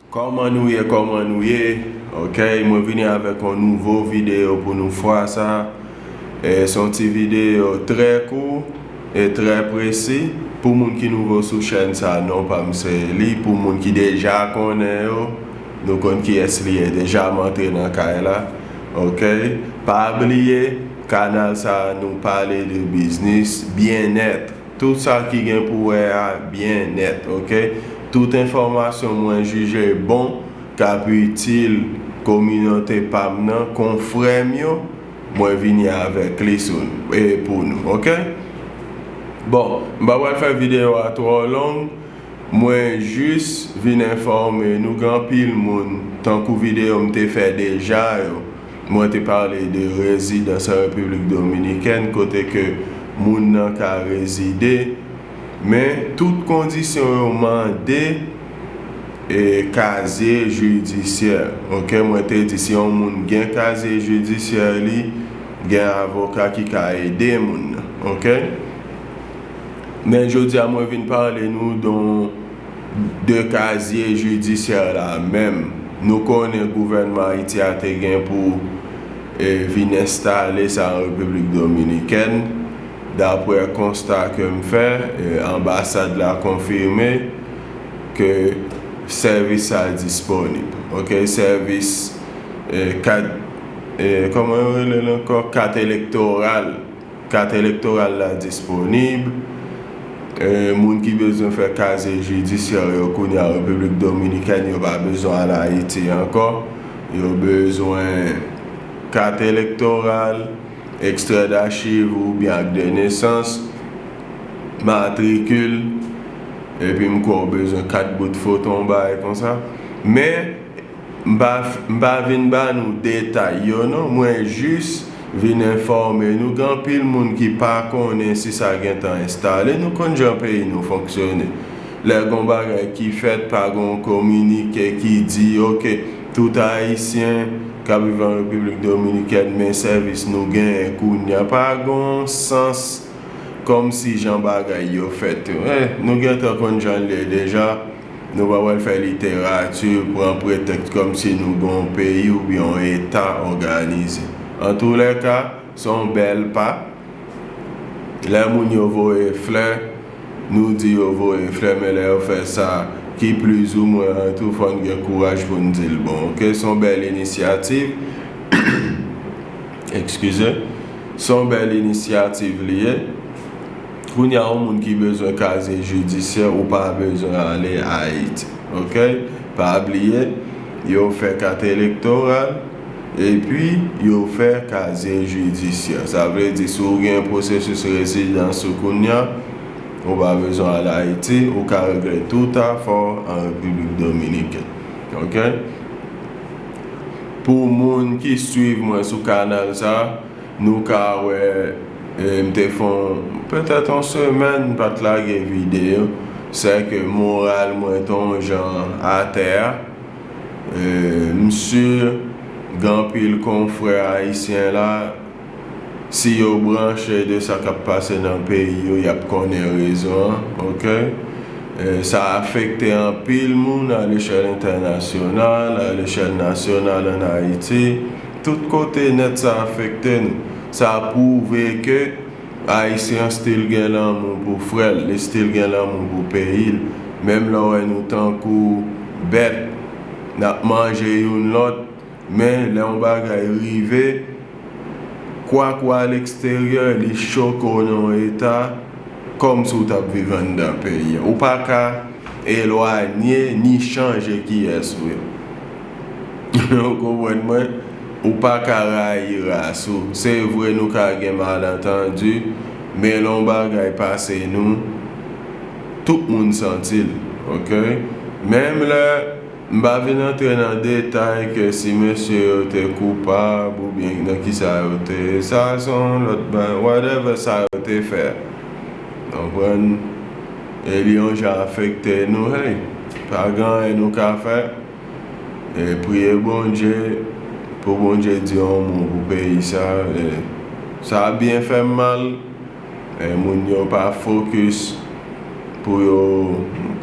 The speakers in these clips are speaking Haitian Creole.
Kòman nou ye kòman nou ye ok mwen vini avèk yon nouvo video pou nou fwa sa e se yon ti video trè kou e trè presi pou moun ki nouvo sou chèn sa non pam se Eli pou moun ki deja konnen yo nou konn kiyès li ye deja m antre nan kay la ok pa bliye kanal sa nou pale de biznis byenèt. Tout sa ki gen pou wè a byen nèt ok. Tout enfòmasyon mwen jije bon k ap itil kominote pa m nan konfrè m yo mwen vini avèk li sou n e pou nou ok. Bon m pa pral fè videyo a twò long mwen jis vin enfòme nou gen anpil moun tankou videyo m te fè deja yo. Mwen te pale de rezidans an Repiblik Dominikèn kote ke moun nan ka rezide, men tout kondisyon yo mande e kazye jidisyè ok mwen te di si yon moun gen kazye jidisyè li gen avoka ki ka ede moun nan ok men jodia mwen vin pale nou don de kazye jidisyè la menm. Nou konnen gouvènman Ayiti a te gen pou vin enstale sa an Repiblik Dominikèn, daprè konsta ke m fè, anbasad la konfime ke sèvis sa a disponib. Ok, sèvis kat, kòman yo rele l ankò, kat elektoral. Kat elektoral la disponib. Moun ki bezwen fè kazye jidisyè yo kounye a Repiblik Dominikèn yo pa bezwen al Ayiti ankò. Yo bezwen kat elektoral, ekstrè dachiv oubyen ak de nesans, matrikil epi m kwè ou bezwen kat bout foton, bagay konsa. Men. M pa vin ba nou detay yo non, mwen jis vin enfòme nou gen anpil moun ki pa konnen si sa gentan enstale. Nou konn jan peyi nou fonksyone, lè gon bagay ki fèt pa gon kominike ki di ok tout ayisyen k ap viv an Repiblik Dominikèn men sèvis nou genyen kounya pa gon sans kòmsi jan bagay yo fèt. Nou gentan konn jan l ye deja. Nou pa pral fè literati pran pretèks kòm si nou gen yon peyi oubyen yon eta òganize. Antoulèka, se yon bèl pa. Lè moun yo voye flè, nou di yo voye flè men lè yo fè sa ki plizoumwen an tou fò n gen kouraj pou n di l bon ok. Se yon bèl inisyativ, ekskize, se yon bèl inisyativ li ye. Kounya yon moun ki bezwen kazye jidisyè ou pa bezwen ale ayiti ok pa bliye yo fè kat elektoral epi yo fè kazye jidisyè sa vle di si ou gen pwosesis rezidans ou kounya ou pa bezwen ale ayiti ou ka regle tout afè w an repiblik dominikèn ok pou moun ki swiv mwen sou kanal sa. Nou ka wè m te fè petèt yon semèn m pat lage video, sè ke moral mwen te yon jan atè a. M si gen anpil konfrè ayisyen la, si yo branche de sa kap pase nan peyi yo yap konnen rezon an ok. Sa afekte anpil moun alechèl entènasyonal, alechèl nasyonal an Ayiti. Tout kote nèt sa afekte nou. Sa pwouve ke Ayisyen still gen lanmou pou frè l, li still gen lanmou pou peyi l. Menm lè w wè nou tankou bèt, n ap manje youn lòt, men lè yon bagay rive, kwak w a leksteryè, li choke w nan yon eta kòm si w t ap viv anndan peyi an. Ou pa ka elwanye ni chanje kiyès ou ye. Ou konprann mwen? Ou pa ka rayi ras ou. Se vre nou ka gen malantandi, men lè yon bagay pase nou, tout moun santi l. Ok? Menm lè m pa vin antre nan detay ke si mesye yo te koupab oubyen nan kisa yo te, sa se yon lòt bagay, whatever sa yo te fè. Konprann? Lyon ja afekte nou hey pa gen anyen nou ka fè eh priye bondye pou bondye di yon mo pou peyi sa eh sa byen fèm mal eh moun yo pa focus pou yo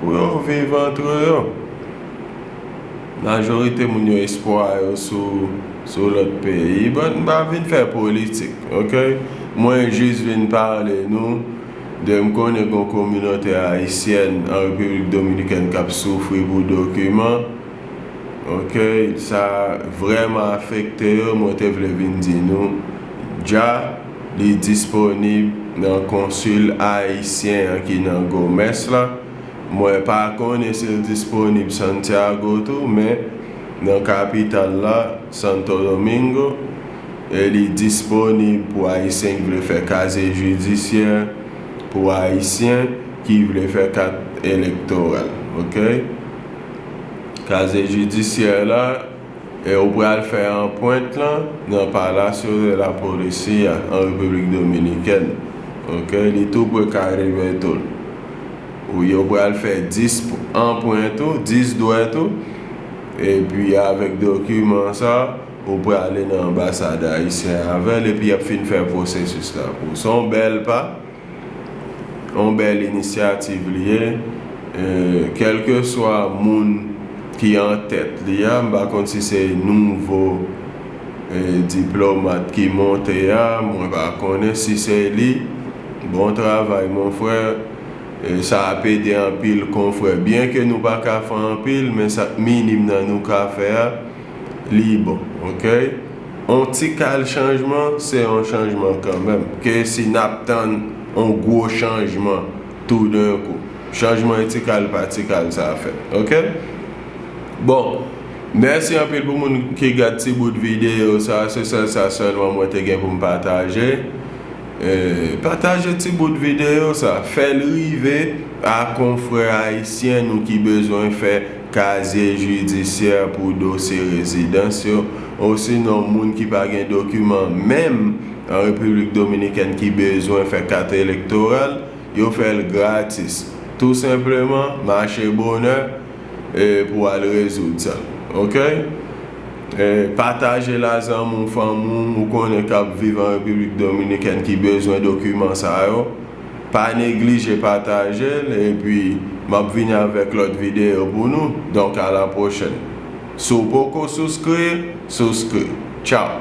pou yo viv antre yo majorite moun yo espwa yo sou sou lòt peyi bon m pa vin fè politik ok mwen jis vin pale nou. 2 m konnen gon kominotè ayisyèn an repiblik dominikèn kap soufri pou dokiman ok sa vrèman afekte yo mwen te vle vin di nou dja li disponib nan konsil ayisyen an ki nan gomès la mwen pa konnen sil disponib santiago tou men nan kapital la santodomingo. Li disponib pou Ayisyen ki vle fè kazye jidisyè, pou Ayisyen ki vle fè kat elektoral. Okay. Kazye jidisyè la, e ou pral fè anpwent lan nan Palacio de la Policía an Repiblik Dominikèn. Okay. Li tou pre Caribetool. Ou yo pral fè 10 anpwent ou, 10 dwèt ou, epi avèk dokiman sa, Ou prale nan anbasad ayisyen avèl epi yap fin fè pwosesis la pou ou. Se yon bèl pa, yon bèl inisyativ li ye. Kèlkeswa moun ki an tèt li a, m pa konn si se nouvo diplomat ki monte a, mwen pa konnen. Si se li, bon travay mon frè. Sa ap ede anpil konfrè. Byenke nou pa ka fè anpil men sa minim nan nou ka fè a. lib ok on tikal chanjman se on chanjman kanmèm ke si nap tann on gwo chanjman tou den kou chanjman e tikal pa tikal sa fèt ok bon mèsi anpil pou moun ki gad ti bout videyo sa se sèl sa sèlman mwen te gen poum pataje pataje ti bout videyo sa fèl rive a konfrè ayisyen nou ki bezwen fè kazye jidisyè pou dosye rezidans yo, osinon moun ki pa gen dokiman menm an Repiblik Dominikèn ki bezwen fè kat elektoral, yo fè l gratis. Tou senpleman, mache bonè pou al rezoud sa. Okey? Pataje l a zanmi w, fanmi w, ou konnen k ap viv an Repiblik Dominikèn ki bezwen dokiman sa yo. Pa neglije patajel epi map vini avek lot video pou nou donk a la pwochen si w poko souskri souskri tchau.